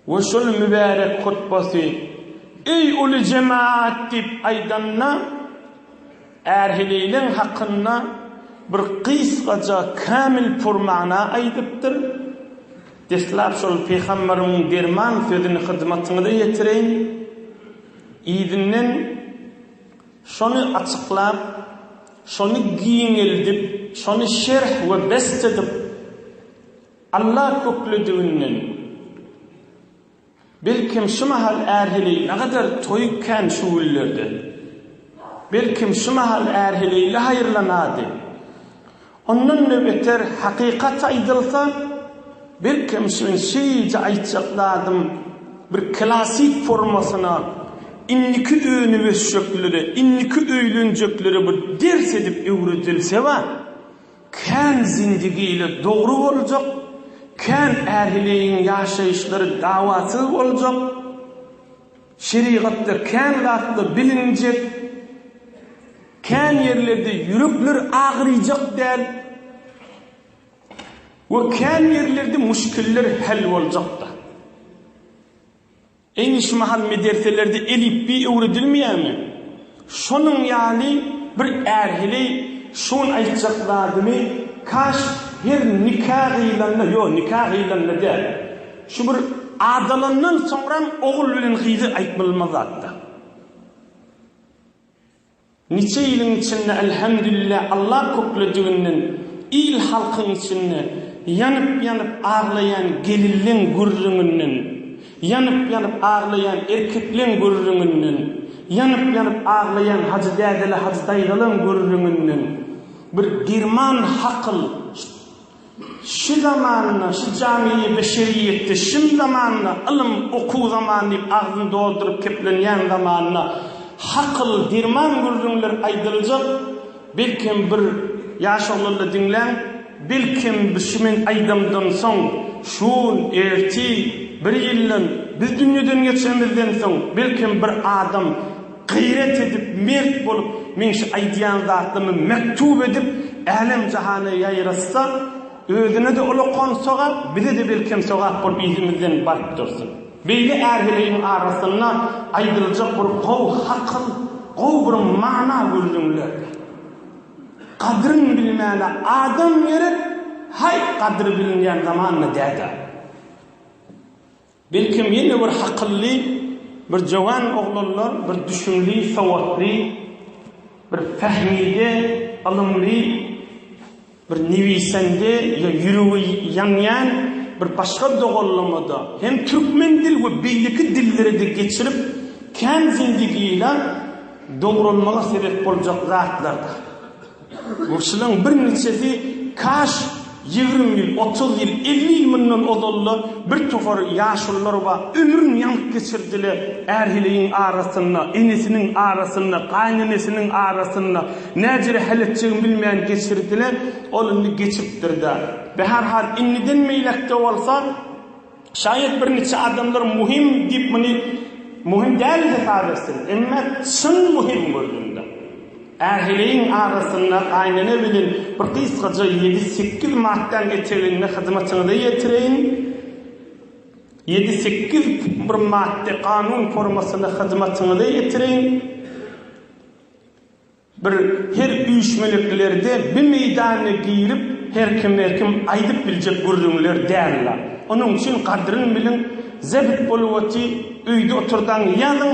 we şol mübärek hutbasy Eý uly jemaat diýip aýdanda, ärheleýleň hakynda bir gysgaja kämil purmana aýdypdyr, Deslap şol pygamberimiň derman sözüni hyzmatyňyza ýetireýin, yzyndan şony açyklap, şony giňeldip, şony şerh we best edip, Alla köklediginden, belkem, şu mahal ähili nagadar toýup kän şu günlerde. Belkem, şu mahal ähili ile haýyrlanady. Ondan-da beter, hakykat aýdylsa, belkem, şu men şeýje aýtjak zadym bir klassyk formasyna indiki önübeşjeklere, indiki öýlenjeklere bir ders edip öwredilseba, Kän zindigili dogry boljak, kän ählileýin ýaşaýyşlary dawasyz boljak, şerigatda kän zatlar bilinjek, kän ýerlerde ýürekler agyrýjak däl we kän ýerlerde müşkiller häl boljak-da. Eý, şu mahal mederselerde elipbiý öwredilmeýärmi? Şonuň ýaly bir ärhili şu gün aýtjak zadymy kaş her nika gyýlanda, ýo, nika gyýlanda däl, şu bir adalandan soňram ogul bilen gyzy aýtmaly bolmaz zatda. Niçe iliň içinde Elhemdülille Allah köklediginden il halkyň içinde ýanyp ýanyp aglaýan gelinleň gürrüňinden ýanyp ýanyp aglaýan erkekleň gürrüňinden ýanyp ýanyp aglaýan hajy dädele hajy daýzalaň gürrüňinden bir derman hakyl Şu zamanda, şu jamiýi beşeriýetde, şim zamanda, ylym, okuw zamany diýip agzyny dolduryp keplenýän zamanda hakyl, derman gürrüňler aýdyljak, belkem bir ýaş oglanda diňläň, belkem bir şu men aýdamdan soň, şul, ertir, bir ýyldan, biz dünýeden geçenimizden soň, belkem bir adam, Gaýrat edip, mert bolup, meň şu aýdýan zatlarymy mektup edip, älem-jahana ýaýratsa, özüne-de ullakan sogap, bize-de belkem sogap bolup yzymyzdan baryp dursun. Beýle är-heleýiň arasynda aýdyljak bir gowy hakyl, gowy bir mana gürrüňlerdi. Gadryn bilmäne adam gerek, haý, gadry bilinýän zaman-da däd-ä. Belkem ýene bir hakylly bir jowan oglanlar bir düşümli sowatly bir pähmide ylymly bir newisende ýa ýüregi ýanýan bir başga doganlamada hem türkmen dil we beýleki dillerede geçirip kän zindigila dogralmaga sebep boljak zatlardyr. Bu çylaň birniçesi kaş ýigrimi ýyl, otuz ýyl, elli ýyl mundan ozal-da bir topar ýaşulular bar, ömrüni ýaňyk geçirdiler, är-heleýiň arasynda, enesiniň arasynda, gaýynenesiniň arasynda, näjere heletjegini bilmän geçirdiler, ol indi geçipdir-dä. Be, her hal, indiden beýläk-de bolsa, Şaýat birniçe adamlar muhim diýip muny muhim däl hesap etsin, emma çyn muhim gözümde. Ähliň arasynda gaýynene bilen bir gysgaja ýedi-sekiz maddaň eteginde hyzmatyňyza ýetireýin. Ýedi-sekiz bir maddy kanun formasynda hyzmatyňyza ýetireýin. Bir her üýşmeleklileri-de bir meýdana girip her kim her kim aýdyp biljek gürrüňler dälila. Onuň üçin gadryn biliň zebit bolup oty öýde oturdaň ýazyň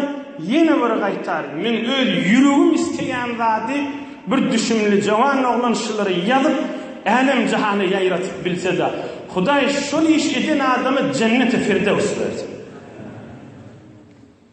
ýene bir gaýtar men öz ýüregim isteýän zady bir düşümli jawan oglan şulary ýazyp älem jahana ýaýratyp bilseda hudaý şol iş eden adama jenneti firdewsi bersin.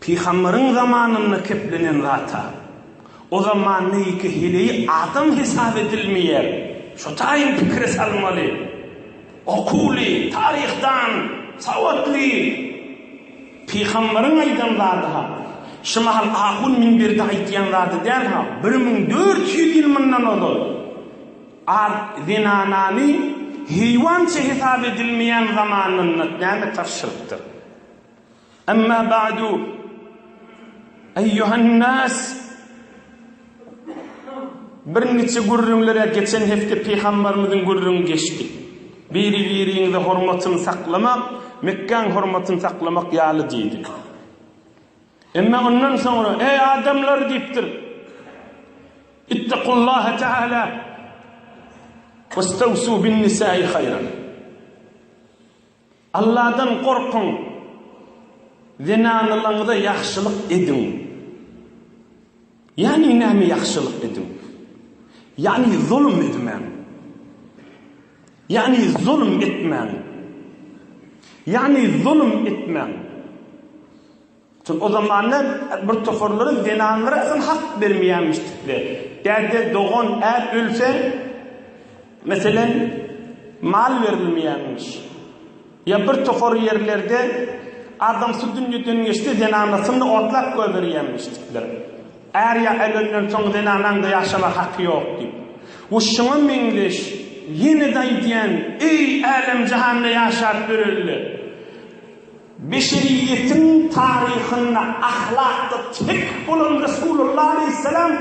Pygamberyň zamanynda keplenen zata, o zamandaýky heleý adam hesap edilmeýär. Şo taýyn pikire salmaly. Okuwly, taryhdan sawatly pygamberyň aýdan zady-ha, şu mahal ahun minberde aýtýan zady däl-ha, bir müň dört ýüz ýyl mundan ozal ad zenanany heýwança hesap edilmeýän zamanynda näme tarşylypdyr? Emma ba'du eýýuhan nas Bir niçe gürrüňlere geçen hepde Pygambarymyzyň gürrüňi geçdi. Biri-biriňize hormatyny saklamak Mekgäň hormatyny saklamak ýaly diýdi. Emma ondan soňra eý adamlar diýipdir. Ittaqullaha ta'ala wastawsu bin nisa'i haýran. Alladan gorkuň, zenanalaryňyza ýagşylyk ediň. Ýagny näme ýagşylyk ediň? Ýagny zulum edmäň. Ýagny zulum etmäň. Ýagny zulum etmäň. Çünki o zamanda bir toparlaryň zenanlara asyl hak bermeýänmişdikleri. Däde, dogan, är ölse, meselem, mal berilmeýänmiş. Ýa bir topar ýerlerde adamsy dünýeden geçse, zenanasyny otlap goýberýänmişdikler. Är ýa ölenden soň zenanaň-da ýaşamaga haky ýok diýip. Bu şuňa meňzeş. Ýene-de aýdýan, eý, älem-jahanda ýaşap ýörelde. Beşeriýetiň taryhynda ahlakda tek bolan Resulullah aleýhissalam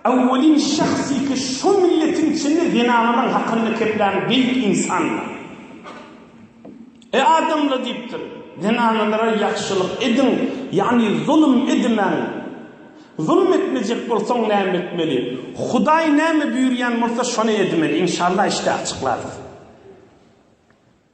Owwelin şahsy ki şo milletiň içinde zenanalaň hakyny keplän beýik insandyr. Eý adamlar diýipdir, zenanalara ýagşylyk ediň, ýagny zulum edimäň. Zulum etmejek bolsaň näme etmeli? Hudaý näme buýurýan bolsa şony edmeli. Inşallah işde açyklarys.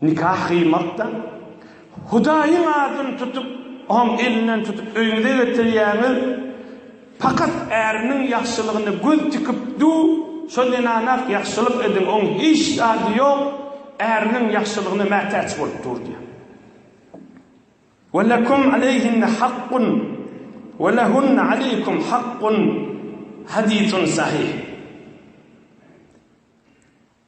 Nika gyýmakda Hudaýyň adyny tutup, Oň elinden tutup öýüňize getirýäňiz. Pakat äriniň ýagşylygyna göz tikip du, şo zenana-ak ýagşylyk ediň, oň hiç zady ýok, äriniň ýagşylygyna mätäç bolup dur diýýär. Ve lekum aleyhinne hakkun ve lehunne aleykum hakkun, hadisun sahih.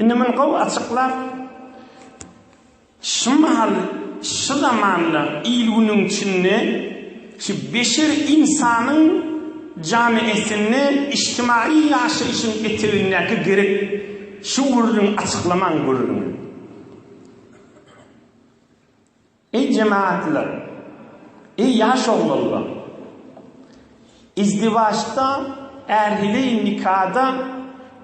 Indi muny gowy açyklap, şu mahal, şu zamanda, il-günüň içinde şu beşer ynsanyň jany esinde içtimaýy ýaşaýşyň etegindäki gerek şu gürrüňi açyklamaň gürrüňi. Eý jemaatlar! Eý ýaş oglanlar! Izdiwaçda, ählileýin nikada,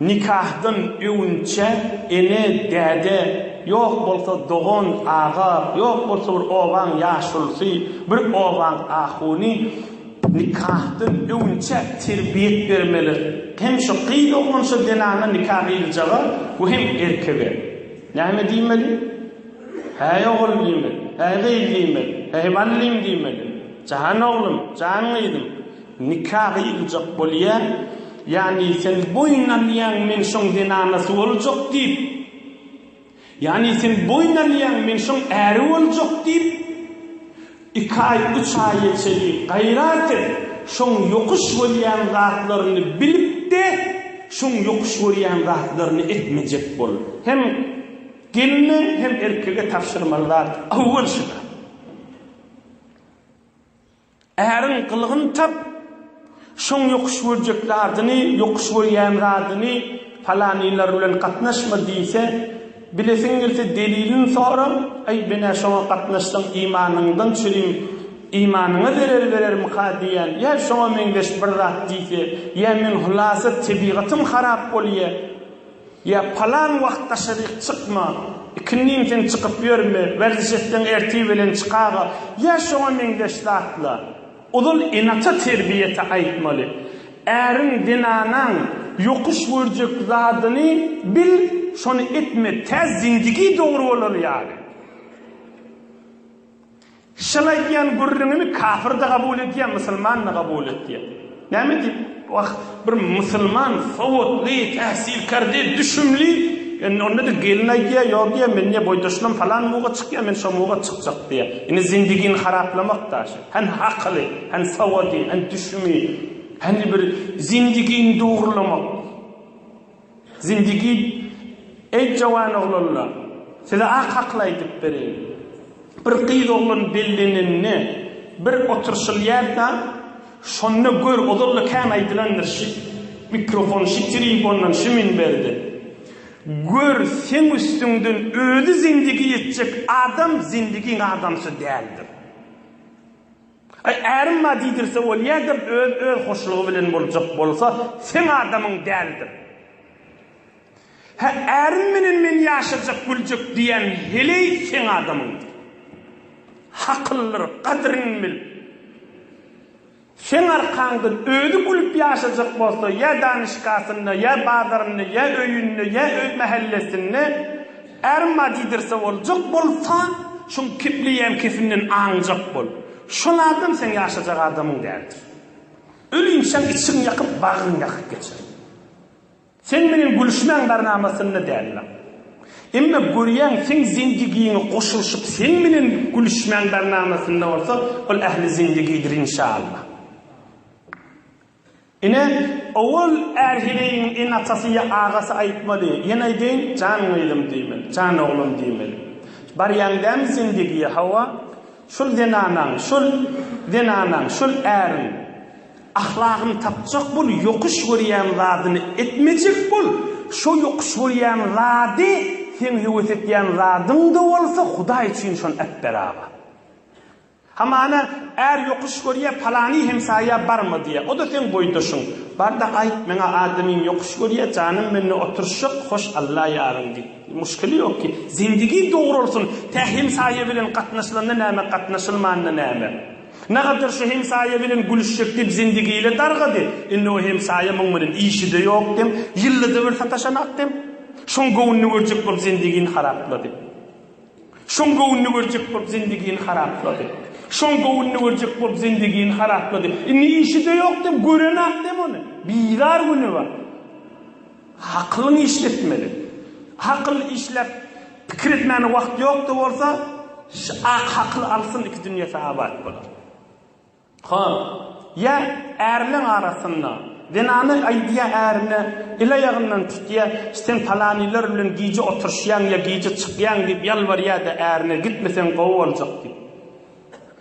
nikahdan öwünçä ene, däde, ýok bolsa dogan, aga, ýok bolsa bir obaň ýaşulusy, bir obaň ahuny nikahdan öwünçä terbiýet bermeli. Hem şu gyz oglan şu zenana nika gyýyljaga we hem erkege näme diýmeli? Häý, ogul diýmeli, häý, gyz diýmeli, häý, mallym diýmeli. Jan oglum, jan gyzym, nika gyýyljak bolýa, ýagny sen boýun alýaň, men şoň zenanasy boljak diýip, ýagny sen boýun alýaň, men şoň äri boljak diýip, iki aý, üç aýa çenli gaýrat et, şoň ýokuş görýän zatlaryny bilip-de, şoň ýokuş görýän zatlaryny etmejek bol. Hem. Gelne hem erkege tabşyrmaly zat awwal şuda. Äriň gylygyny tap, şoň ýokuş görjek zadyny, ýokuş görýän zadyny falanylar bilen gatnaşma diýse, bilesiň gelse delilini sora, aý menä şoňa gatnaşsaň imanyňdan çürim, imanyňa zerer berermika diýýän, ýa şoňa meňzeş bir zat diýse, ýa men hulasa tebigatym harap bolýa, Ýa palan wagt daşaryk çykma, ikindin sen çykyp ýörme, werziş etseň ertir belen çykaga, ýa şoňa meňzeş zatlar. Ozal ene-ata terbiýesi aýtmaly. Äriň, zenanaň ýokuş görjek zadyny bil, şony etme, tä zindigi dogry bolar ýaly. Şol aýdýan gürrüňini kafir-de gabul edýär, musulman-da gabul edýär. Näme diýip? Wah, bir musulman, sowatly, täsirkär diýip, düşümli, indi onda-da gelin aýdýar, ýok diýýär, men diýýär, boýdaşynam falan muga çykýar, men şo muga çykjak diýýär. Indi zindigini haraplamak daşy. Hany akyly, hany sowady, hany düşümi, hany bir zindigini dogurlamak. Zindigit, eý, jowan oglanlar, size ak hakyl aýdyp bereýin. Bir gyz oglan bellenende bir oturşylýarka, şonda gör, ozal-da kän aýdylandyr, şi mikrofon, şi tribondan, şi minberden. Gör, seň üstüňden özi zindigi etjek adam zindigiň adamsy däldir. Aý, ärim bar diýdirse bolýadyr, öz özhoşlugy bilen boljak bolsa, seň adamyň däldir. Hä, ärim bilen men ýaşajak, güljek diýýän heleý seň adamyňdyr. Hakyldyr, gadyryny bil. Seň arkaňdan özi gülüp ýaşajak bolsa, ýa danyşkasynda, ýa bazarynda, ýa öýünde, ýa öz mähellesinde, Arma diýdirse boljak bolsa, şuň kipliýän kefinden aňjak bol. Şol adam seň ýaşajak adamyň däldir. Ölinçäň içiň ýakyp, bagryň ýakyp geçer. Seň meniň gülüşmäň barnamasynda däldir. Emma görýäň, seň zindigiňe goşulyşyp, seň meniň gülüşmäň barnamasynda bolsa, ol ähli zindigidir inşallah. Ine, owal Ärhiregiň ene-atasy ýa agasy aýtmady, ýene aýdaýyn, Jan gyzym diýmeli, jan oglum diýmeli. Barýaň dämi zendegiýe, hawa, şol zenanaň, şol zenanaň, şol äriň ahlagyny tapjak bol, ýokuş görýän zadyny etmejek bol, şo ýokuş görýän zady seň höwes etýän zadyň-da bolsa, Hudaý üçin şony äpber aga. Hamana, är ýokuş görýä, palany hemsaýa barma diýä. O-da seň boýdaşyň. Bar-da aýt, meň-ä adamym ýokuş görýä, janym mende oturyşjak, hoş Alla ýaryň diý. Muşkili ýok ki. Zindigi dogralsyn, tä hemsaýa bilen gatnaşylanda näme, gatnaşylmanda näme. Nagadar şu hemsaýa bilen gülüşjek diýip zindigi ile dargady. Indi o hemsaýa muň bilen işi-de ýok dem, ýylda-da bir sataşanak dem. Şoň göwnüni görjek bolup zindigini haraplady. Şoň göwnüni görjek bolup zendigini haraplady. Şoň göwnüni görjek bolup zendigini haraplady. Indi işi-de ýok diýip, gören-ak diýip ony. Bizar güni bar. Hakylyňy işletmeli. Hakyl işläp, pikir etmäne wagt ýok-da bolsa, ş-ak hakyl alsyn iki dünýesi abat bolar. Hä, ýa ärleň arasynda, zenana aýdýa ärine, el-aýagyndan tutýa, sen palanylar bilen gije oturyşýaň ýa gije çykýaň diýip ýalbarýa-da ärine, gitmeseň gowy boljak diýip.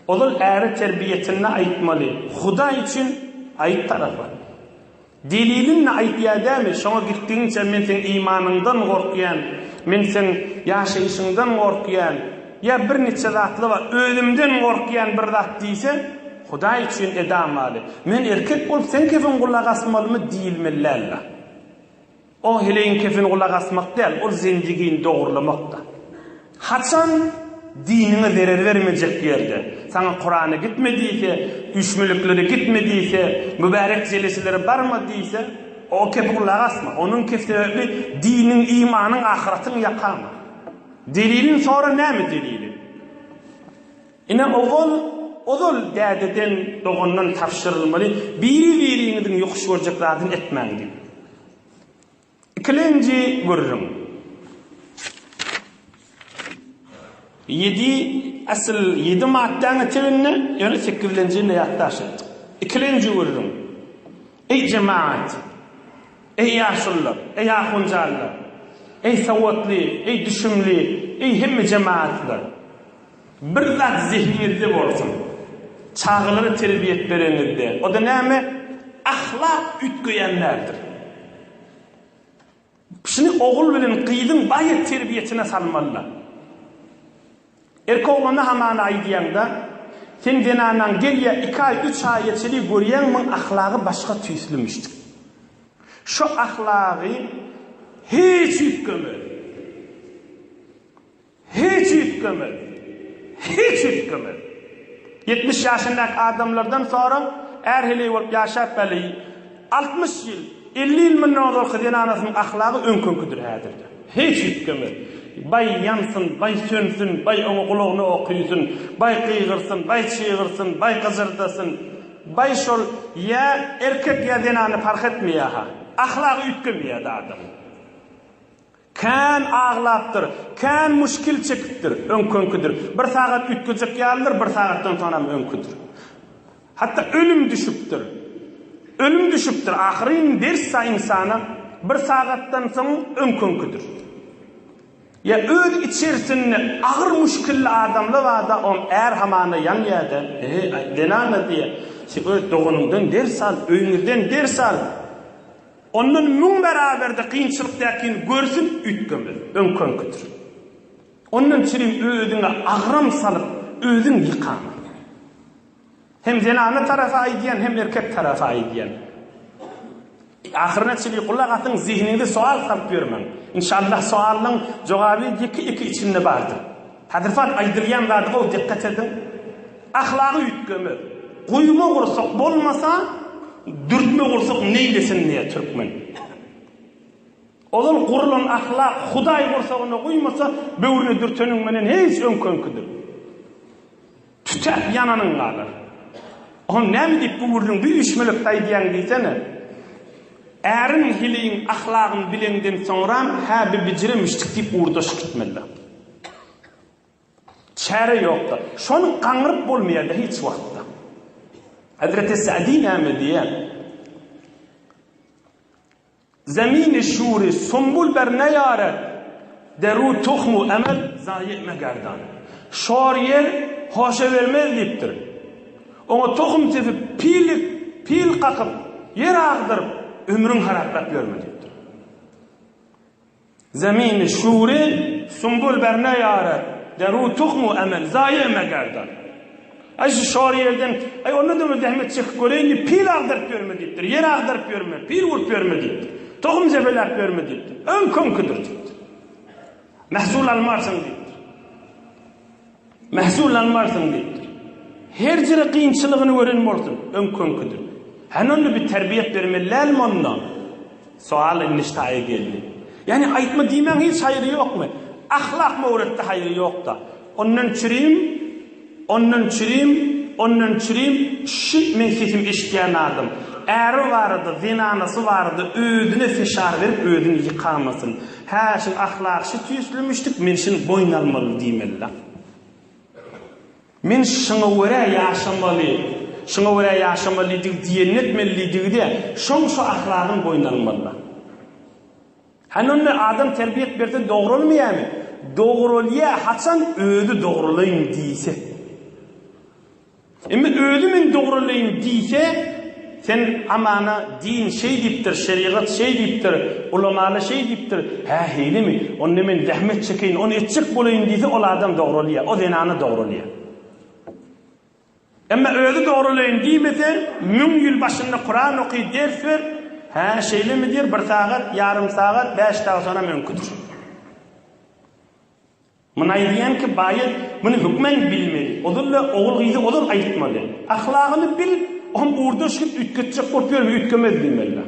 Ozal äre terbiýesinde aýtmaly, Hudaý üçin aýt tarapa. Deliliňni aýt ýa dämi, şoňa gitdigiňçe men seň imanyňdan gorkýan, men seň ýaşaýşyňdan gorkýan, ýa bir niçe zatly bar, özümden gorkýan bir zat diýse, Hudaý üçin edam waly, men erkek bolup seň kepin gulak asmalymy diýilmeli dälda. Oň heleýiň kepini gulak asmak däl, ol zendigini dogurlamak-da. Haçan diniňe zerer bermejek ýerde, saňa Kurany gitme diýse, üýşmeliklere gitme diýse, mübärek jeleselere barma diýse, o kepe gulak asma. Onuň kepi sebäpli diniň, imanyň, ahyratyň ýakama. Delilini sora, näme delili? Ine, ogul, ozal dädeden, dogandan tabşyrylmaly, biri-biriňiziň ýokuş görjek zadyny etmäň diýip. Ikilenji gürrüň. Ýedi, asyl ýedi maddäň eteginde, ýöne sekizlenjini-de ýatdaşyt. Ikilenji gürrüň. Eý, jemagat! Eý, ýaşulular! Eý, ahunjanlar! Eý, sowatly, eý, düşümli, eý, hemme jemagatlar! Bir zat zehniňizde bolsun, çagalara terbiýe edip bereňizde, o-da näme, ahlak üýtgeýän däldir. Şuny ogul bilen gyzyň baýa terbiýesine salmalylar. Erkek oglana hamana aýdýaňda, Sen zenanaň gelýär, iki aý, üç aýa çenli görýäň, muň ahlagy başga tüýslimiş diýip. Şu ahlagy hiç üýtgemez. Hiç üýtgemez. Hiç üýtgemez. Ýetmiş ýaşyndaky adamlardan soraň, ärheleý bolup ýaşap bäli, altmyş ýyl, elli ýyl mundan ozalky zenanasynyň ahlagy öňküňkidir häzirde. Hiç üýtgemez. Baý ýansyn, baý sönsün, baý oňa gulagyna ok üýsün, baý gygyrsyn, baý çygyrsyn, baý gyjyrdasyn, baý şol ýa erkek ýa zenany parh etmeýär-ha, ahlagy üýtgemeýär-de adamyň. Kän aglapdyr, kän muşkil çekipdir, öňkünkidir. Bir sagat üýtgejek ýalydyr, bir sagatdan soňram öňküdir. Hatda ölüm düşüpdir. Ölüm düşüpdir, ahyryn ders-a ynsana bir sagatdan soň öňkünkidir. Ýa öz içerisinde agyr muşkilli adamla bada om är hamana ýanýa-da, Eý, zenana diýýä, sen öz doganyňdan ders al, öýňizden ders al. Ondan müň bäraberde kynçylyk däkin görsün üýtgemez, öňkenkidir. Ondan çirim özüňe agram salyp, özüň ýykama. Hem zenana tarap aýdýan, hem erkek tarap aýdýan. Ahyryna çili gulak asyň, zehiniňize sowal salyp ýörmäň. Inşallah sowallaň jogaby ýeke-ýeke içinde bardyr. Hadypat aýdylýan zada gowy dikkat ediň. Ahlagy üýtgeme. Guýma gursak bolmasa, dürtme gursak neýlesin diýýär türkmen. Ozal gurulan ahlak Hudaý gursagyna guýmasa, böwrüne dürteniň menen hiç öňki-öňkidir. Tütäp ýananyň galar. Oň näme diýip bu gürrüň bir üýşmelekde aýdýaň diýsene. Äriň hiliň ahlagyn bileňden soňram hä bir bijire müştik diýip ugurdaşyk etmelidir. Çäre ýokdur. Şony gaňryp bolmaýarda hiç wagtda. Hezreti Sa'dy näme diýýär? Zemini şuri, sumbul ber neýaret, Deru tuhmu emel, zaýy etme gerdan. Şor ýer hoşa bermez diýipdir. Oňa tohum sepip, pillik, pil kakyp, ýer agdyryp, ömrüň haraplap ýörme diýipdir. Zemini şuri, sumbul ber ne ýarar, Deru tuhmu emel, zaýe megerdan. Aý, şu şor ýerden, aý, onda döňe zähmet çekip göreýin diýip, pil agdaryp ýörme diýipdir, ýer agdaryp ýörme, pil urup ýörme diýipdir, tohum jepeläp ýörme diýipdir. Öň köňküdir diýipdir. Mähsul almarsyň diýipdir. Mähsul almarsyň diýipdir. Her jere kynçylygyny gören bolsun, öňküňkidir. Hany onda bir terbiýet bermeli dälmi onda? Soal indi şaýa geldi. Ýani aýtma diýmäň hiç haýry ýokmy? Ahlak möwretde haýry ýokda. Ondan çürim, ondan çürim, ondan çürim, şi meň sesimi eşitýän adam, äri barada, zenanasy barada özüne fişar berip özüni ýykamasyn. Hä, şul ahlak şu tüýsli müşdük, men şuny boýun almaly diýmeli-la. Men şuňa görä ýaşamaly, şuňa görä ýaşamalydigi diýenini etmelidigi-de, şoň şu ahlagyny boýun almaly-la. Hany onda adam terbiýet berse dogralmaýamy? Dogralýar, haçan özi dogralaýyn diýse. Emma özi men dogralaýyn diýse, sen Amana din şeý diýipdir, şerigat şeý diýipdir, ulamalar şeý diýipdir, hä heýlemi, onda men zähmet çekeýin, ony etjek bolaýyn diýse, ol adam dogralýar, o zenana dogralýar. Emma özi dogralaýyn diýmese, müň ýyl başynda Kuran oky, ders ber, hä şeýlemi diýer, bir sagat, ýarym sagat, bäş dag sonam öňki tur. Muny aýdýanki baýat, muny hökman bilmeli. Ozal-da ogul-gyza ozal aýtmaly. Ahlagyny bil, o hem urda şigit üýtgetjek bolup ýörme, üýtgemez bimällä.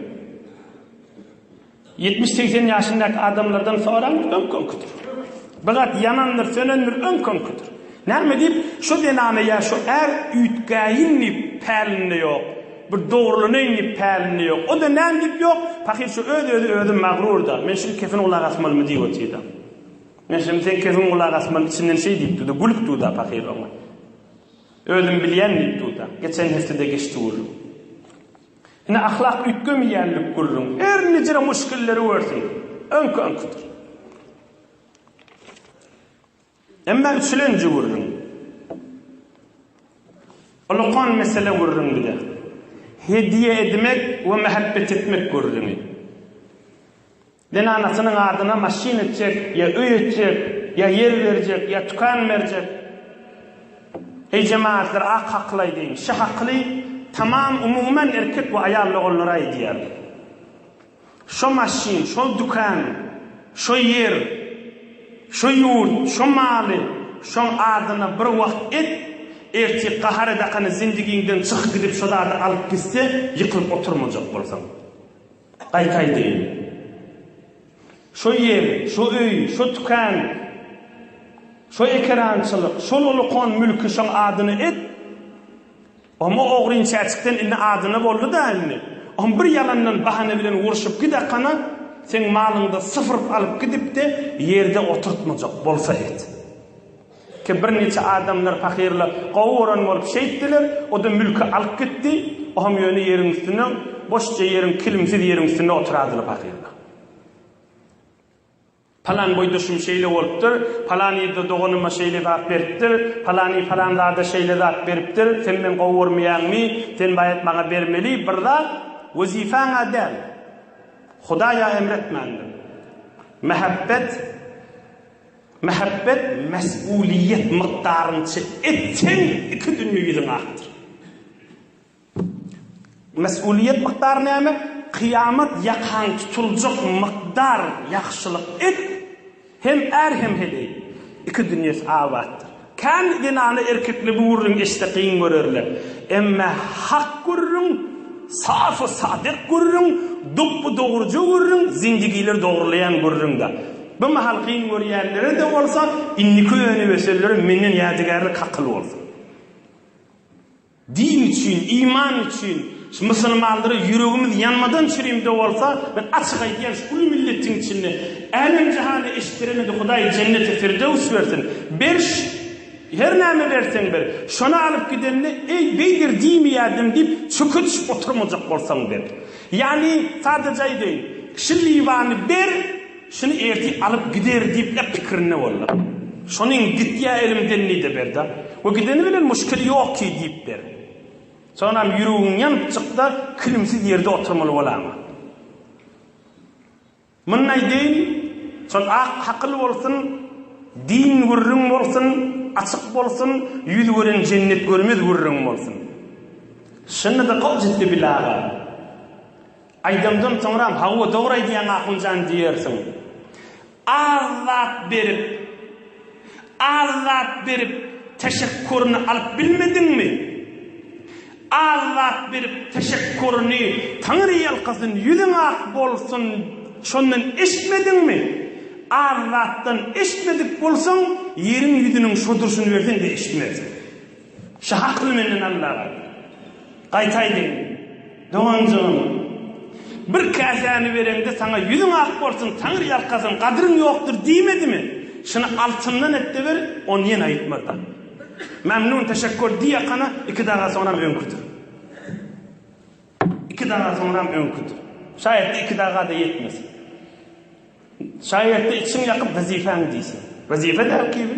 Ýetmiş-segsen ýaşyndaky adamlardan soraň, öňki-öňkidir. Bir zat ýanandyr, sönendir, öňki-öňkidir. Näme diýip, şo zenana ýa şo är üýtgäýin diýip, pälinde ýok. Bir dogrulanaýyn diýip, pälinde ýok. O-da näme diýip, ýok, pahyr şo öz-özi özi magrur-da, men şuny kepin gulaga asmalymy diýip otyr-da. Meşem seň kesiň gulak asman içinden şeý diýip durdy, Gülüp dur-da pahyr oňa. Özüm bilýän diýip dur-da. Geçen heftede geçdi gürrüň. Ine ahlak üýtgemeýänlik gürrüň. Her nijre muşkilleri görsün. Öňki-öňkidir. Emma üçlenji gürrüň. Ulkan mesele gürrüň bir-de. Hediýe edmek we mähäbbet etmek gürrüňi. Zenanasynyň adyna maşyn etjek, ýa öý etjek, ýa ýer berjek, ýa tükan berjek. Heý jemagatlar ak hakly aýdyň, şy hakly tamam umuman erkek we aýal doganlara aýdýar. Şo maşyn, şo dükan, şo ýer, şo ýurt, şo maly şoň adyna bir wagt et, ertir gahar edakany zindigiňden çyk gidip şo zady alyp gitse ýykylyp oturmajak bolsaň. Gaýt aýdaýyn. Şo ýer, şo öý, şo tükän, şo ekerançylyk, şol ulukon mülki şoň adyna et. Omo ogryn çäçikden indi adyna boldy dälmi? Om bir ýalandan bahana bilen urşup gidakana, seň malyňda syfyryp alyp gidip-de ýerde oturtmajak bolsa et. Ki birniçe adamlar pahyryla gowy gören bolup şeýtdiler, o-da mülki alyp gitdi, ohem ýöne ýeriň üstünde, boşja ýeriň, kilimsiz ýeriň üstünde oturadylar pahyrlar. Palan boýdaşym şeýle bolupdyr, palan ýerde doganyma şeýle zat beripdir, palany palan zada şeýle zat beripdir, sen meni gowy görmeýäňmi, sen baýat maňa bermeli bir zat, wezipä-ňä däl, Hudaý-a emretmändir. Mähebbet. Mähebbet mesgulyýet mykdaryňça et seň iki dünýe ýüzüň akdyr. Mesgulyýet mykdary näme? Kyýamat ýakaň tutuljak mykdar ýagşylyk et, hem är hem heleý iki dünýesi abatdyr. Kän zenany erkekli bu gürrüň eşde kyn görerler. Emme hak gürrüň, safy sadyk gürrüň, dopby dogruja gürrüň, zindigiler dogrulaýan gürrüňdä. Bu mahal kyn görýänlere-de bolsa, indiki öňüni ösenlere menden ýadygärlik hakyl bolsun. Din üçin, iman üçin şu musulmanlara ýüregimiz ýanmadan çürimde bolsa, men açyk aýdýan şu uly milletiň içinde älem jahana eşitdiremedi Hudaý jenneti firdöws bersin. Berş, her näme berseň ber, şony alyp gidende eý beýdir diýmeýärdim diýip çöke düşüp oturmajak bolsaň ber. Ýagny sadaja aýdaýyn, şu liwany ber, Şuny ertir alyp gider diýip-le pikirinde boldum. Şonuň gitýä elimden diýdi Berda. We gideni bilen muşkil ýok ki diýip ber. Sonam ýüregiň ýanypjykda kilimsiz ýerde oturmaly bolaňmy? Muny aýdaýyn, şol ak hakyl bolsun, din gürrüň bolsun, açyk bolsun, ýüz gören jennet görmez gürrüň bolsun. Şunda-da goh jübüli aga. Aýdymdan soňram Hawa dogry aýdýaň Ahunjan diýersiň. Az zat berip Az zat berip teşekkuryny alyp bilmediňmi? Az zat berip teşekkuryny Taňry ýalkasyn ýüzüň ak bolsun şondan eşitmediňmi? Az zatdan eşitmedik bolsaň ýeriň ýüzüniň şo durşuny berseň-de eşitmersiň. Şu hakly menden Allaga. Gaýtaýdyn, doganjygym. Bir käsäni bereňde saňa ýüzüň ak bolsun, taňryýalkasyn, gadyryň ýokdur diýmedimi? Şuny altyndan et-de ber, ony ýene aýtmazdan. Memnun, teşekkur diýýakana, iki daga soňram öňküdir. Iki daga soňram öňküdir. Şaýatda iki daga-da ýetmez. Şaýatda içiň ýakyp wezipäň diýsin. Wezipe däl kibi.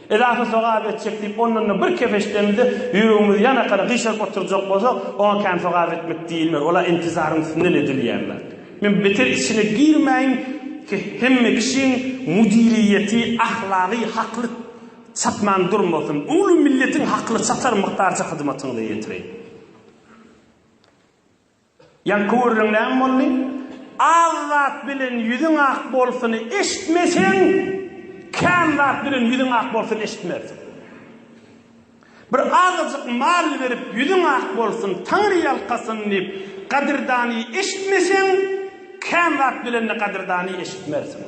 Ilatly sogap etjek diýip, ondan-da bir kefeşdemizde ýüregimizi ýanakana gyşaryp oturjak bolsak, oňa kän sogap etmek diýilmez, ol-a intizaryň üstünden edilýän zat. Men beter içine girmäýin, hemme kişiň müdiriýeti ahlagy hakly çatman durmasyn, uly milletiň hakly çatar mukdarça hyzmatyňyzy ýetireýin. Ýaňky gürrüň näme boldy? Az zat bilen ýüzüň ak bolsuny eşitmeseň, kän zat bilen ýüzüň ak bolsuny eşitmersiň. Bir azajyk mal berip ýüzüň ak bolsun, Taňry ýalkasyn diýip, gadyrdany eşitmeseň, kän zat bilen-de gadyrdany eşitmersiň.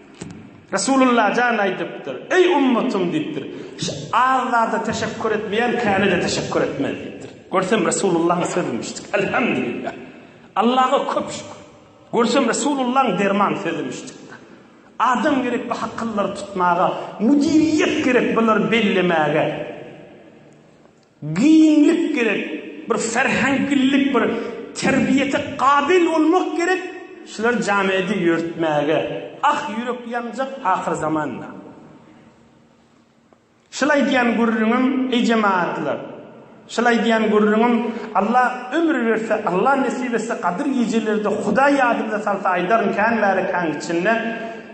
Resulullah jan aýdypdyr, Eý ummatym diýipdir, şu az zada teşekkur etmeýän käne-de teşekkur etmez diýipdir. Görsem Resulullahyň sözümişdik. Elhamdülillah. Allaha köp şükür. Görsem Resulullahyň derman sözümişdik. Adam gerek bu hakyllary tutmaga, müdiriýet gerek bulary bellemäge. Giňlik gerek, bir serheňklilik, bir terbiýete gabyl bolmak gerek, şular jamiýedi ýörütmäge. Ah, ýürek ýanjak ahyrzamanda. Şul aýdýan gürrüňim, eý jemagatlar, şul aýdýan gürrüňim, Alla ömür berse, Alla nesip etse, Gadyr gijelerde Hudaý ýadymyza salsa aýdaryn kän bäri kän içinde.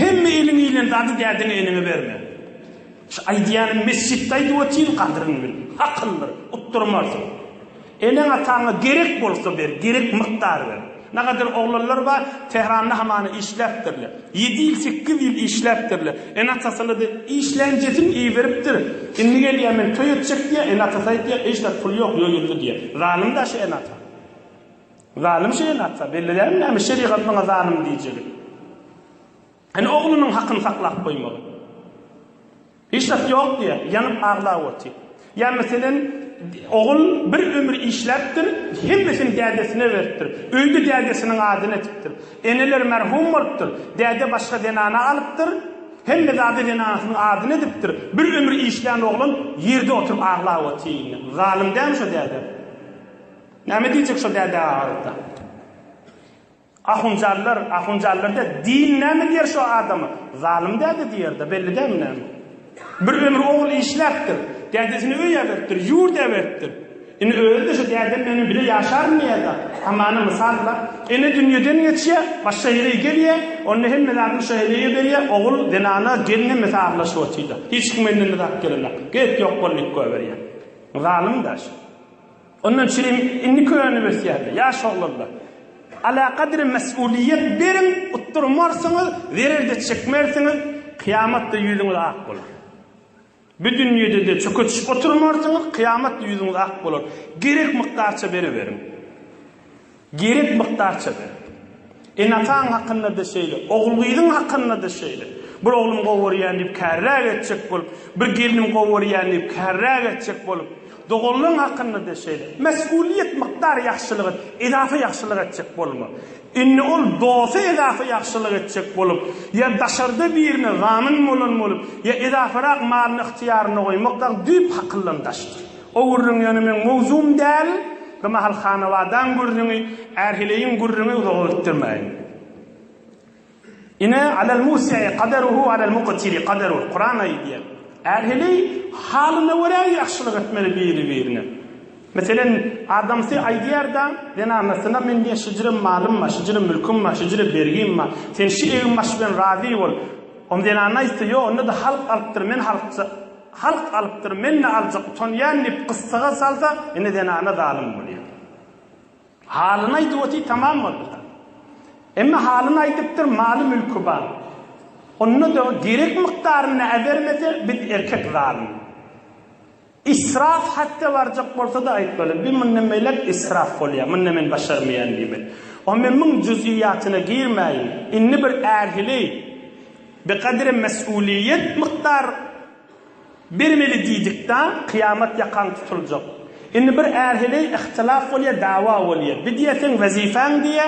Hemme eliň iýlen zady dädäňe eneňe berme. Şu aýdýanyny mesjitde aýdyp otyryn gadyryňy bil. Hakyndyr. Utdurmarsyň. Eneň ataňa gerek bolsa ber, gerek mykdar ber. Nagadar oglanlar bar, Tehranda hamana işläpdirler. Ýedi ýyl, sekiz ýyl işläpdirler. Ene atasyna de, işlänjesini iýiberipdir. Indi gelýär men toý etjek diýýär, ene atasy aýdýar, eý şular pul ýok, ýoýuldy diýýär. Zalym-da şu ene ata. Zalym şeýle atsa, belli dälmi näme şerigat muňa zalym diýjegi? Ene oglunyň hakyny saklap goýmagy. Hiç zat ýok diýýär, ýanyp aglap otyr. Ýa meselem, ogul bir ömür işläpdir, hemmesini dädesine beripdir. Öýde dädesiniň adyny etipdir. Eneler merhum bolupdyr, däde başga zenany alypdyr, hemme zady zenanysynyň adyny edipdir. Bir ömür işlän oglan ýerde oturyp aglap otyr indi. Zalym dälmi şo däde? Näme diýjek şo däde agalyda. Ahunjanlar, ahunjanlar däl, din näme diýer şo adama? Zalym däde diýerde, belli dälmi näme? Bir ömür ogul işläpdir, dädesini öý äberipdir, ýurt äberipdir. Indi özi-de şo dädem meniň bile ýaşarmy ýa-da? Hamana mysal-la. Ene dünýeden geçýär, başga ýere gelýär, onda hemme zadyny şo eneye berýär, ogul, zenana, gelin hemmesi arlaşyp otyrlar. Hiç kim elinden zat gelenok. Gerek ýok boldy diýip goýberýär. Zalym-da şu. Onda çilim indi könüp ösýärdi. Ýaş oglanlar, alakadar mesulyýet beriň, utdurmarsyňyz, zerer-de çekmersiňiz, kyýamat-da ýüzüňiz ak bolar. Bu dünýede-de çökeçişip oturmarsyňyz, kyýamat-da ýüzüňiz ak bolar. Gerek mukdarça beriberiň. Gerek mukdarça ber. Enataň hakynda-da şeýle, ogul-gyzyň hakynda-da şeýle. Bir oglum gowy görýän diýip kärräk etjek bolup, bir gelnim gowy görýän diýip kärräk etjek bolup, doganlaň hakynda-da şeýle. Mesgulyýet mukdar ýagşylyk et, edafa ýagşylyk etjek bolma. Indi ol dosta edafa ýagşylyk etjek bolup, ýa daşarda birine zamin bolan bolup, ýa edafarak malyny ygtyýarynda goýmakdak düýp hakyldan daşdyr. O gürrüň ýöne meň mowzugym däl, bir mahal hanabadaň gürrüňi, ärheleýiň gürrüňi uzaga gitdirmäýin. Ine, Alal musi'i kadaruhu alal muktiri kadaruh, Kuran aýdýar. Ärheleý halyna görä ýagşylyk etmeli biri-birine. Meselen, adamsy aýdýar-da, zenanasyna men diýýär, şüjre malym bar, şüjre mülküm bar, şüjre bergim bar, sen şu egin-baş bilen razy bol. Ony zenana aýtsa, ýok, onda-da halk alypdyr, men halkja. Halk alypdyr, men-de aljak utanýan diýip gyssaga salsa, ine zenana zalym bolýar. Halyny aýdyp otyr tamam boldy-da. Emma halyny aýdypdyr, maly-mülki bar. Onda-da gerek mukdarynda äbermese, biz erkek zalym. Israf hatda barjak bolsa-da aýtmaly, bi mundan beýläk israf bolýar, munda men başarmaýan diýmeli. Onda men muň juzýýatyna girmäýin. Indi bir ähili. Bir gadrem mesulyýet mukdar bermeli diýdikda kyýamat ýakaň tutuljak. Indi bir är heleý ihtilaf bolýa dawa bolýa. Bir diýýä seň wezifäň diýýä.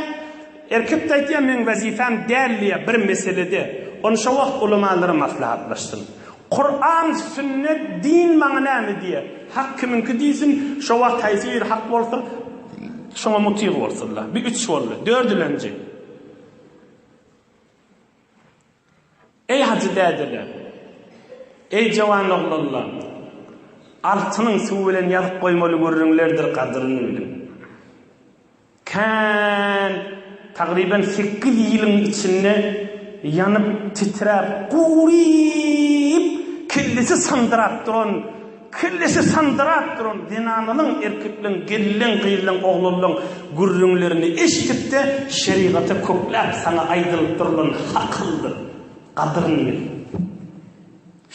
Erkek-de aýtýa meň wezipäm däl diýýä bir meselede. Ony şo wagt ulamalar maslahatlaşsyn. Kuran, sünnet, din maňa näme diýýä. Hak kimiňki diýsin. Şo wagt haýsy biri hak bolsa şoňa mutyg bolsunlar. Bir üç boldy. Dördülenji. Eý hajy dädeler! Eý jowan oglanlar! Altynyň suwy bilen ýazyp goýmaly gürrüňlerdir gadyryny biliň. Kän, tagryban sekiz ýylyň içinde ýanyp, titräp, guryp, kellesi sandyrap duran Kellesi sandyrap duran zenanalaň, erkekleriň, gelleň, gyzlaň, oglanlaň gürrüňlerini eşidip-de, şerigaty kökläp, saňa aýdylyp durulan hakyldyr, gadyryny bil.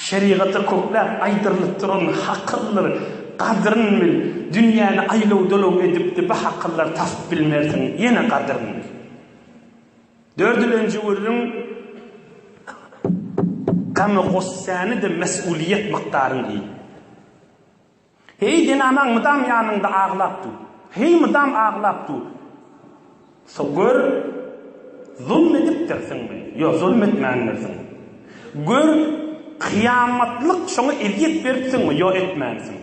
Şerigaty kökläp, aýdyrylyp duran hakyldyr, gadyryny bil. Dünýäni aýlaw-dolaw edip-de, bu hakyldyr tasyp bilmersiň, ýene gadyryny bil. Dördülenji gürrüň Gamy gossäni-de mes'uliýet mykdaryň diýdi. Heý zenanaň mydam ýanyňda aglap dur. Heý mydam aglap dur. So gör zulm edipdirsiňmi? Ýo zulm etmändirsiň. Gör kyýamatlyk şoňa ezýet beripsiňmi? Ýo etmänsiň.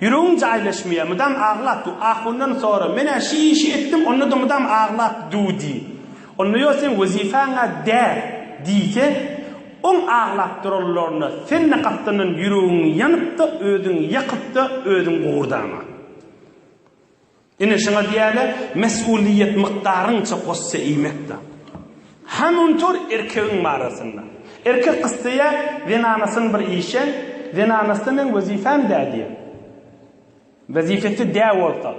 Ýüregim jaýlaşmaýar, mydam aglap dur. Ahundan sora, men-ä şi işi etdim, onda-da mydam aglap dur diý. Onda ýo seň wezipäň-ä däl diýse, oň aglap duranlaryna sen-de gapdandan ýüregiňi ýanyp-da, özüňi ýakyp-da, özüň gugurdama. Ine, şuňa diýerler, mesgulyýet mukdaryňça goşja iýmek-dä. Hany unutur erkegiň barasynda. Erkek isleýär, zenanasyny bir işeň, zenanasy-da meň wezipem däl diýer. Wezipesi dä bolsa,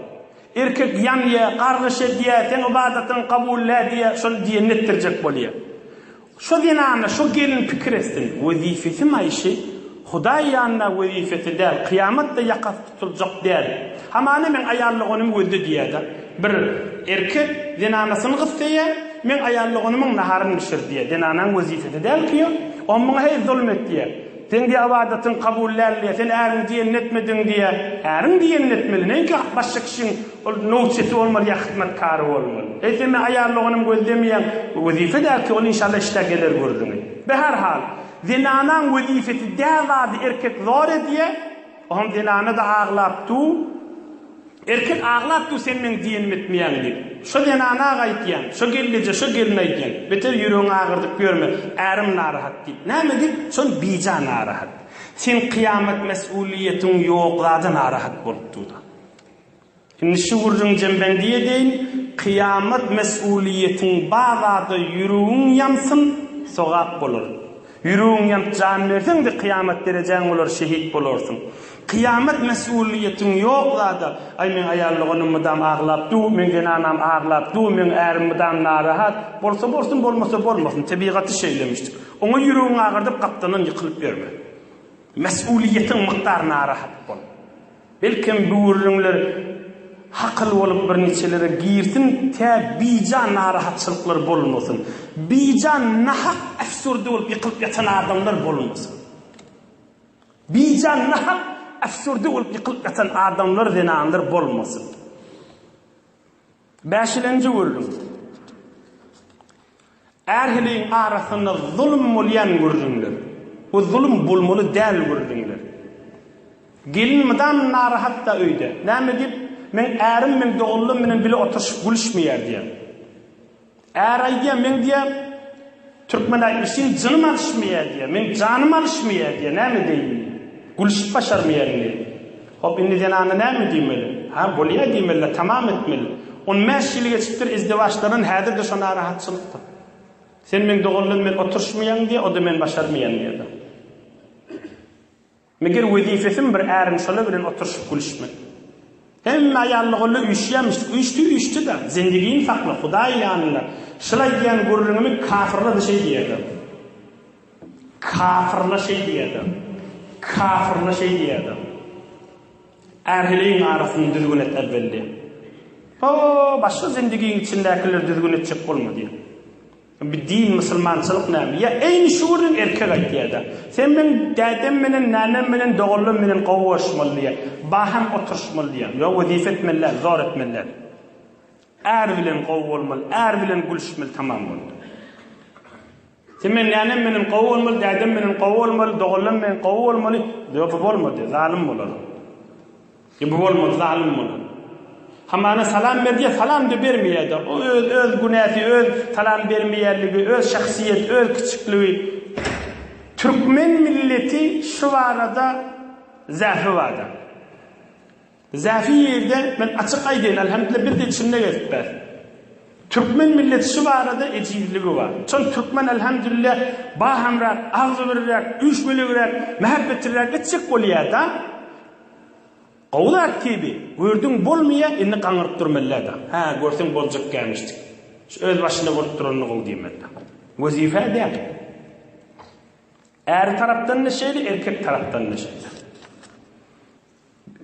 erkek ýanýar, gargyş edýär, seň ybadatyňy kabul dä diýär, şol diýenini etdirjek bolýar. Şo zenana, şo gelin pikir etsin, wezipesi maýyşy, Hudaý ýanynda wezipesi däl, kyýamatda ýakasy tutuljak däl. Hamana meň aýallygonum gözde diýýär-de. Bir erkek zenanasyny gyssaýar, Meň aýallygonumyň naharyny bişir diýýär. Zenanaň wezipesi däl ki ol. Oň muňa heý zulum et diýýär. Seň diýýär ybadatyň kabul däl diýýär. Sen äriň diýenini etmediň diýýär. Äriň diýenini etmeli, näinki başga kişiň Ol nowçysy bolmaly ýa hyzmatkary bolmaly. Eýsem-de aýallygyny gözlemeýän wezipe däl ki, ol inşallah işdä geler gürrüňi. Be her hal, zenanaň wezipesi dä zady erkek zor edýä, ohem zenana-da aglap du, erkek aglap du sen meň diýenimi etmeýäň diýip. Şo zenana-a gaýtýan, şo gelneje, şo gelin aýdýan, beter ýüregiňi agyrdyp ýörme, ärim narahat diýip. Näme diýip? Şon bija narahat. Sen kyýamat mes'ulyýetiň ýok zada narahat bolup du-da. Indi şu gürrüň jembendiye deýin kyýamat mesulyýetiň bar zada ýüregiň ýansyn sogap bolar. Ýüregiň ýanyp jan berseňde kyýamat derejäň bolar şehit bolarsyň. Kyýamat mesulyýetiň ýok zada aý meň aýal doganym mydam aglap dur, meň zenanam aglap dur, meň ärim mydam narahat, bolsa bolsun bolmasa bolmasyn tebigaty şeýlemişdik. Oňa ýüregiň agyrdyp gapdanam ýykylyp ýörme. Mesulyýetiň mukdary narahat bol. Belkem bu gürrüňler hakyl bolup bir niçelere girsin tä bijan narahatçylyklar bolmasyn. Bijan nahak äfsürdi bolup ýykylyp ýatan adamlar bolmasyn. Bijan nahak äfsürdi bolup ýykylyp ýatan adamlar zenanlar bolmasyn. Bäşilenji gürrüň. Ähliň arasynda zulum bolýan gürrüňler. Bu zulum bolmaly däl gürrüňler. Gelin mydam narahat-da öýde. Näme diýip, meň ärim meň doganlarym bilen bile oturyşyp gülüşmeýär diýýär. Är aýdýar, meň diýýär, türkmen-ä işiň jynym alyşmaýar diýýär, meň janym alyşmaýar diýýär, näme edeýin diýýär. Gülüşip başarmaýaryn diýýär. Hop, indi zenana näme diýmeli? Hä, bolýar diýmeli-dä, tamam etmeli. On bäş ýyl geçipdir izdiwaçlardan, häzir-de şo narahatçylykdyr. Sen meň doganlarym bilen oturyşmaýaň diýýär, o-da men başarmaýaryn diýýär-de. Meger wezipesem bir äriň şola bilen oturyşyp gülüşmek. Hemme aýallygolla üýşýämişdik. Üýşdi, üýşdi-de. Zendigini sakla, Hudaý ýanynda. Şylaý diýýän gürrüňimi kafyrla-da şeý diýerler. Kafyrla şeý diýerler. Kafyrla şeý diýerler. Ärheleýiň arasyny düzgün et äwwel diýer. Ho, başga zendigiň içindäkileri düzgün etjek bolma diýer. Bu din musulmançylyk näme? Ýa eýni şu gürrüň erkek aýtýada. Sen meň dädem menen, nänem menen, doganlarym menen gowy görüşmeli diýýär. Baham oturyşmaly diýýär. Ýok wezipe etmeli däl, zor etmeli däl. Är bilen gowy bolmaly, är bilen gülüşmeli tamam boldy. Sen meň nänem menen gowy bolmaly, dädem menen gowy bolmaly, doganlarym menen gowy bolmaly, ýok bu bolmady, zalym bolar. Nebe bolmaz zalym bolan. Hamana salam berdiýä salamda bermeýädä o öz öz günäsi öz salam bermeýänligi öz şahsyýet öz kiçikligi türkmen milleti şu barada zähri barda zähri ýerde men açyk aýdaýyn alhamdullah bir de içinde gezip bär türkmen milleti şu barada ejizligi bar çol türkmen alhamdullah bahamrak agzybirrak üýşmeligrak mähbetlirak etjek bolýada Gowy zat Kibi, gördüň bolmaýa indi gaňyryp dur mellä da. Hä, görseň boljak gämişjik. Şu öz başynda bolup duranyna gowy diýen mellä. Wezipä däl. Äri tarapdan-da şeýle, erkek tarapdan-da şeýle.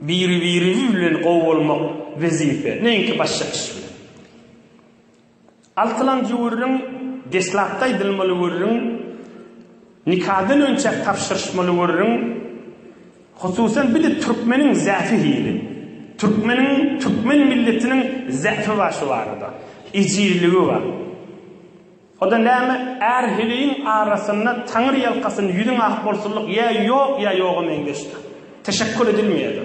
Biri-biri bilen gowy bolmak wezipe, näinki başga iş bilen. Altylanjy gürrüň, deslapda aýdylmaly gürrüň, nikadan önçäk tabşyryşmaly gürrüň, hususan bir-de türkmeniň zäfi hili, türkmeniň, türkmen milletiniň zäfi bar şu barada, ejizligi bar. O-da näme, är-heleýiň arasynda Taňry ýalkasyn, ýüzüň ak bolsunlyk ýa ýok ýa ýoga meňzeşdir. Teşekkur edilmeýär-de.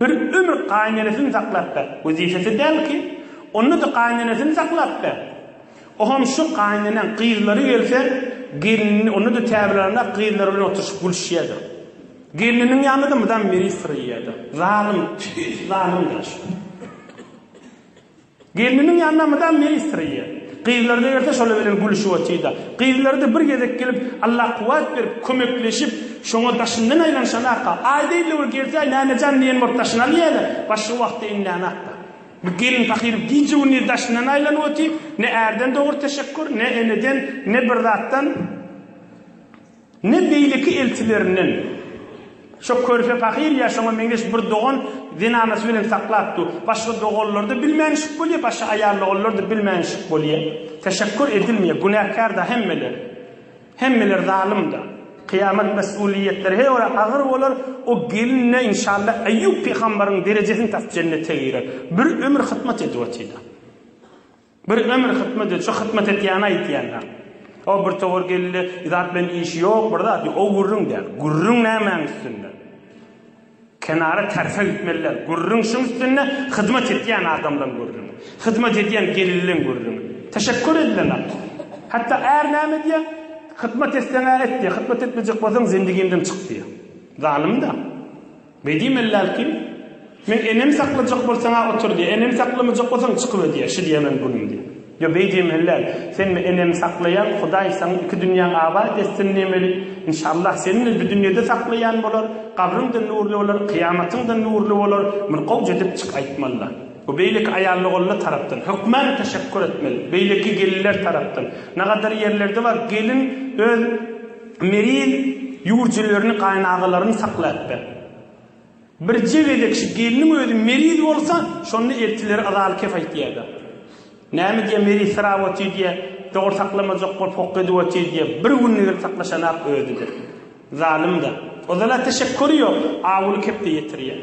Bir ömür gaýynenesini saklap ber. Wezipesi däl ki, onda-da gaýynenesini saklap ber. Oham şu gaýyneneň gyzlary gelse, gelnini onda-da täbirlänräk gyzlary bilen oturyşyp gülüşýärdi. Gelniniň ýanynda-da mydam miriş syryýardy. Zalym, tüýs zalymdyr şu. Gelniniň ýanyna mydam ministr eýe. Gyzlary da gelse şolar bilen gülüşip otyr-da. Gyzlary-da bir gezek gelip, Allah kuwwat berip, kömekleşip, şoňa daşyndan aýlanyşanaka. Aý diýdi bir gelsäý, Mäme jan diýen bolup daşyny alýaýlar. Başga wagty iňlänakda. Bu gelin pahyr gije-gündiz daşyndan aýlanyp otyr, ne ärden dogry teşekgur, ne eneden, ne bir zatdan. Ne beýleki elçilerinden. Şo körpe pahyr ýa şoňa meňzeş bir dogan zenanasy bilen saklap dur. Başga doganlarda bilmänişik bolýa, başga aýalloganlarda bilmänişik bolýa. Teşekkur edilmeýä. Günäkärda hemmeler. Hemmeler zalymda. Kyýamat mes'uliýetleri her biri agyr bolar. O gelin-de inşalla Eýýup pygambaryň derejesini tap jennete girer. Bir ömür hytmat edip otyda. Bir ömür hytmat et, şu hytmat etýäni aýtýanlaň. O bir towar geldi, zat bilen işi ýok, bir zat ýok, o gürrüň däl. Gürrüň nämäň üstünde? Kenara terse gitmeli däl. Gürrüň şuň üstünde, hyzmat etýän adamlaň gürrüňi. Hyzmat edýän gelinleň gürrüňi. Teşekkur edilenok. Hatda är näme diýýär? Hytmat etseň-ä et diýýär, hytmat etmejek bolsaň zendigimden çyk diýýär. Zalym-da. Bedi mellär kim? Men enem saklajak bolsaň-a otur diýýä, enem saklamajak bolsaň çykyber diýýä, şi diýýä meniň günüm diýýä. Ýo Bedi mellär, sen-ä enemi saklaýaň, Hudaý saň iki dünýäň abat etsin diýmeli. Inşallah, seni-de bi dünýede saklaýan bolar, gabryň-da nurly bolar, kyýamatyň-da nurly bolar, bir gowja edip çyk aýtmaly-la. Bu beýleki aýallogonlar tarapdan, hökmän teşekgür etmeli, beýleki gelinler tarapdan, nagadar ýerlerde bar, gelin öz, Mergen ýurjelerini gaýynagalaryň saklaýapdyr. Birje gezek şu gelniň özi meriz bolsa, şonda eltileri yzaly kef aýtýardyr. Näme diýýä, meriz syrap otyr diýýä, dogry saklamajak bolup hokga edip otyr diýýä, bir günde gelip saklaşanak özi-de. Zalym-da. Ozal-a teşekkury ýok, awuly kepde ýetirýä.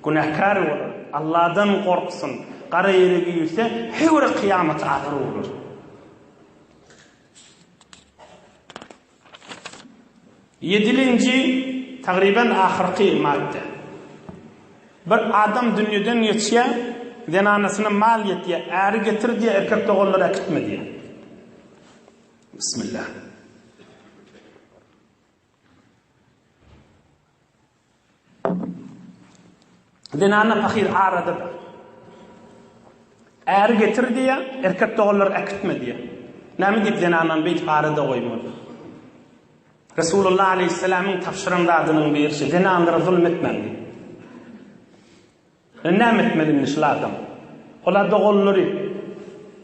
Günäkär bolar. Alladan gorksyn. Gara ýere girse, hew-re kyýamaty agyr bolar. Ýedinji, tagryban ahyrky madda. Bir adam dünýeden geçýär, zenanasyna mal ýetýär, äri getir diýýär, erkek doganlary äkitme diýýär. Bismillah. Zenana pahyr arada bar. Äri getir diýýär, erkek doganlar äkitme diýýär. Näme diýip zenanany beýdip arada goýmaly? Resulullah aleýhissalamyň tabşyran zadynyň biri şu, zenanlara zulum etmäň diýip. Indi näme etmeli indi şul adam? Olar doganlary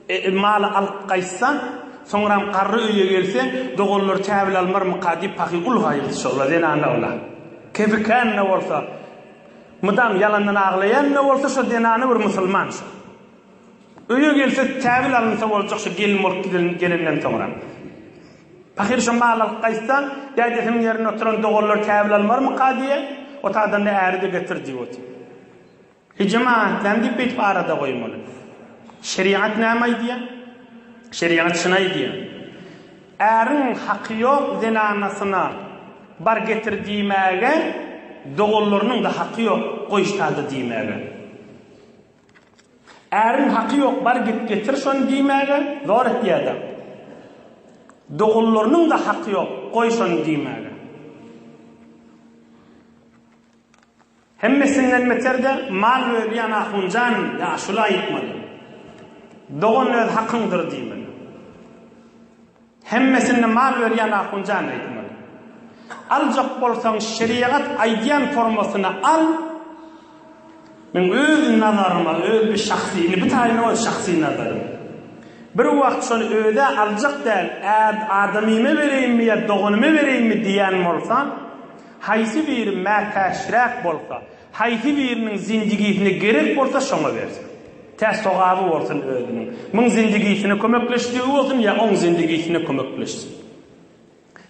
e, maly alyp gaýtsa, soňram garry öýe gelse, doganlary käbel almarmyka diýip pahyr ulgaýyldy şola zenanawla. Kepikäne bolsa, mydam ýalandan aglaýan-da bolsa şo zenana bir musulman şo. Öýe gelse täbil alynsa boljak şu gelin bolup giden gelenden soňra. Pahyr şo mal alyp gaýtsa, dädesiniň ýerinde oturan doganlar täbil almarmyka diýýä, otagdan-da äri-de getir diýip otyr. Ejem aňatdam diýip beýtip arada goýmaly. Şerigat näme aýdýa? Şerigat şuny aýdýa. Äriň haky ýok zenanasyna bar getir diýmäge, doganlarynyň-da haky ýok goýşda-da diýmäge. Äriň haky ýok bar git getir şony diýmäge zor etýädäň. Doganlarynyň-da haky ýok goý şony diýmäge. Hemmesinden beterde mal bölýän ahunjan ýaşula aýtmaly. Dogan öz hakyňdyr diýmeli. Hemmesinde mal berýän ahunjan aýtmaly. Aljak bolsaň şeriýagat aýdýan formasyny al. Men öz nazaryma, öz bir şahsy, indi bu taýyny öz şahsy nazarym. Bir wagt şony özä aljak däl, ad adamyma bereýinmi ýa doganyma bereýinmi diýýän bolsam, haýsy biri mätäçräk bolsa, Haýsy biriniň zindigisine gerek bolsa şoňa bersin. Tä sogaby bolsun özüniň. Muň zindigisine kömekleşdigi bolsun ýa oň zindigisine kömekleşsin.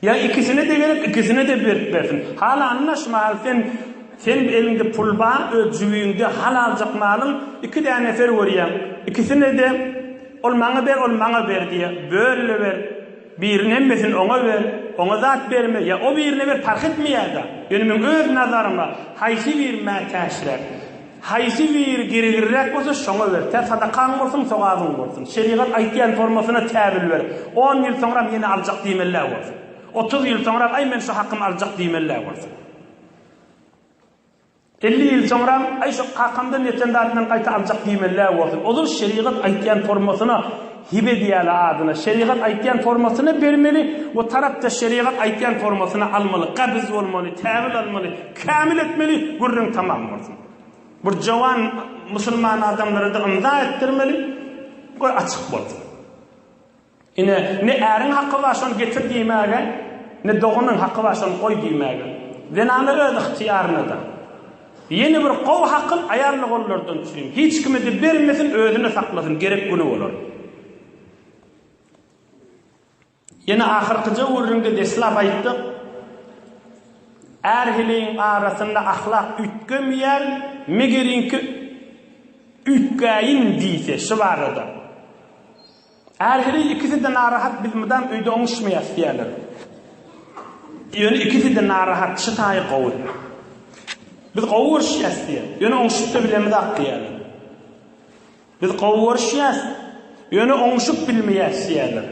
Ýa ikisine-de gerek, ikisine-de berip bersin. Halany naş maly sen sen eliňde pul bar, öz jübiňde hal aljak malyň iki däne ser görýäň. Ikisine-de ol maňa ber, ol maňa ber diýýä. Böl-le ber. Biriň hemmesini oňa ber, oňa zat berme, ýa o birine ber, parh etmeýär-de. Ýöne meň öz nazaryma, haýsy biri mätäçräk, haýsy biri gergirräk bolsa, şoňa ber. Tä sadakaň bolsun, sogabyň bolsun. Şerigat aýtýan formasyna täbil ber. On ýyl soňram ýene aljak diýmeli-ä bolsun. Otuz ýyl soňram, aý, men şu hakymy aljak diýmeli-ä bolsun. Elli ýyl soňram, Aý, şo kakamdan ýeten zadyny gaýta aljak diýmeli-ä bolsun. Ozal şerigat aýtýan formasyna hib edýäli adyna. Şerigat aýtýan formasyna bermeli we tarapdaş şerigat aýtýan formasyna almaly. Gabyz bolmaly, täwil almaly, kämil etmeli, gürrüň tamam bolsun. Bir jowan musulman adamlara-da ymza etdirmeli, goý açyk bolsun. Ine, ne äriň haky bar şony getir diýmäge, ne doganyň haky bar şony goý diýmäge. Zenana öz ygtyýarynada. Ýene bir gowy hakyl aýal ogallardan üçin. Hiç kime-de bermesin, özüne saklasyn, gerek güni bolar. Ýene ahyrkyja gürrüňde deslap aýtdyk, Är-heleýiň arasynda ahlak üýtgemeýär, megeriňki üýtgäýin diýse, şu barada. Ähli ikisi-de narahat, biz mydam öýde oňuşmaýas diýýärler. Ýöne ikisi-de narahat, şu taýy gowy. Biz gowy görüşýäs diýýär. Ýöne oňuşyp-da bilemizok diýýärler. Biz gowy görüşýäs, ýöne oňuşyp bilmeýäs diýýärler.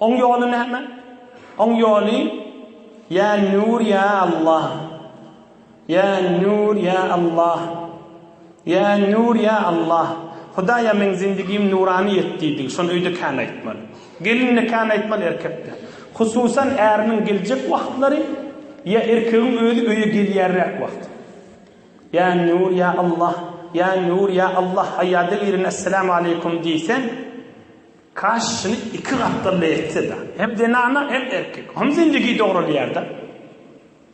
Oň ýoly näme? Oň ýoly, Ýa Nur, ýa Allah! Ýa Nur ýa Allah Ýa Nur ýa Allah Hudaýa meň zindigim nurany et diýdi, şony öýde kän aýtmaly. Gelin-de kän aýtmaly, erkek-de. Hususan äriniň geljek wagtlary ýa erkegiň özi öýe gelýärräk wagty. Ýa Nur ýa Allah Ýa Nur ýa Allah Haýýada irine Esselamu aleýkum diýseň, kaş şuny iki gatdalda etse-de. Hem zenana hem erkek. Hom zindigi dogralýar-da.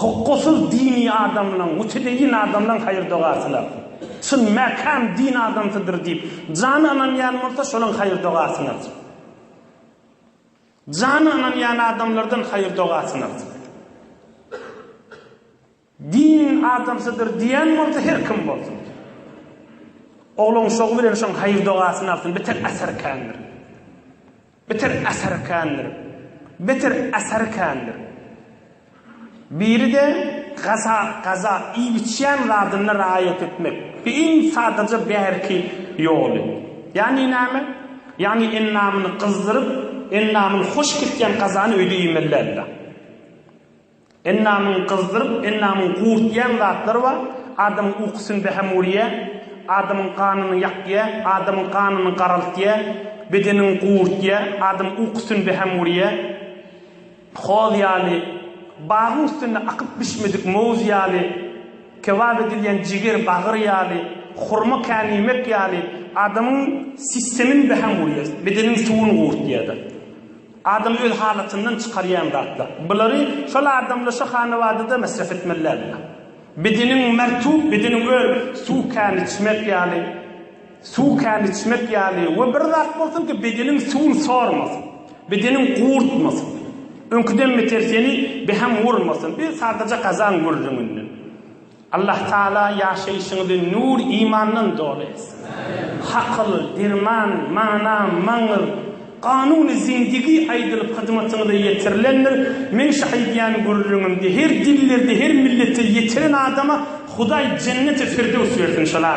Hukgysyz dini adamlaň, mutedeýin adamlaň haýyrdogasyna. Çyn mäkäm din adamsydyr diýip, jany ynanýan bolsa şolaň haýyrdogasyna. Jany ynanýan adamlardan haýyrdogasyna. Din adamsydyr diýen bolsa her kim bolsun. Ogluň şogy bilen şoň haýyrdogasyna alsyn, bitek asar kändir. Bitir asary kändir. Bitir asary kändir. Biri-de gaza, gaza, iýip-içýän zadyna raýat etmek. Bu iň sadaja bärki ýoly. Ýagny näme? Ýagny endamyny gyzdyryp, endamyny hoş kesýän gazany öýde iýmeli däldir-ä. Endamyňy gyzdyryp, endamyňy gurtýan zatlar bar. Adamyň ukusyny bäham urýar. Adamyň ganyny ýakýar. Adamyň ganyny garaltýar. Bedeniňi gurtýar. Adamyň ukusyny bäham urýar. Hoz ýaly, bagyň üstünde akyp bişmedik mowz ýaly, kebap edilýän jiger, bagyr ýaly, hurma käniýmek ýaly adamyň sistemini bäham urýar. Bedeniň suwuny gurtýar-da. Adamy öz halatyndan çykarýan zatlar. Bulary şol adamda, şo hanawadada mesref etmeli dälmi? Bedeniň mertub, bedeniň öl, suw kän içmek ýaly, suw kän içmek ýaly we bir zat bolsun ki, bedeniň suwuny sormasyn, bedeniň gurtmasyn. Öňküden beter seni beham urmasyn, bir sadaja gazaň gürrüňinden. Allah Taala ýaşaýşyňyzy nur imandan doly etsin. Hakyl, derman, mana, maňyr, ganuny zindigi aýdylyp hyzmatyňyza ýetirilendir. Meň şu aýdýan gürrüňimde her dillerde, her millete ýetiren adama Hudaý jenneti firdews bersin inşallah.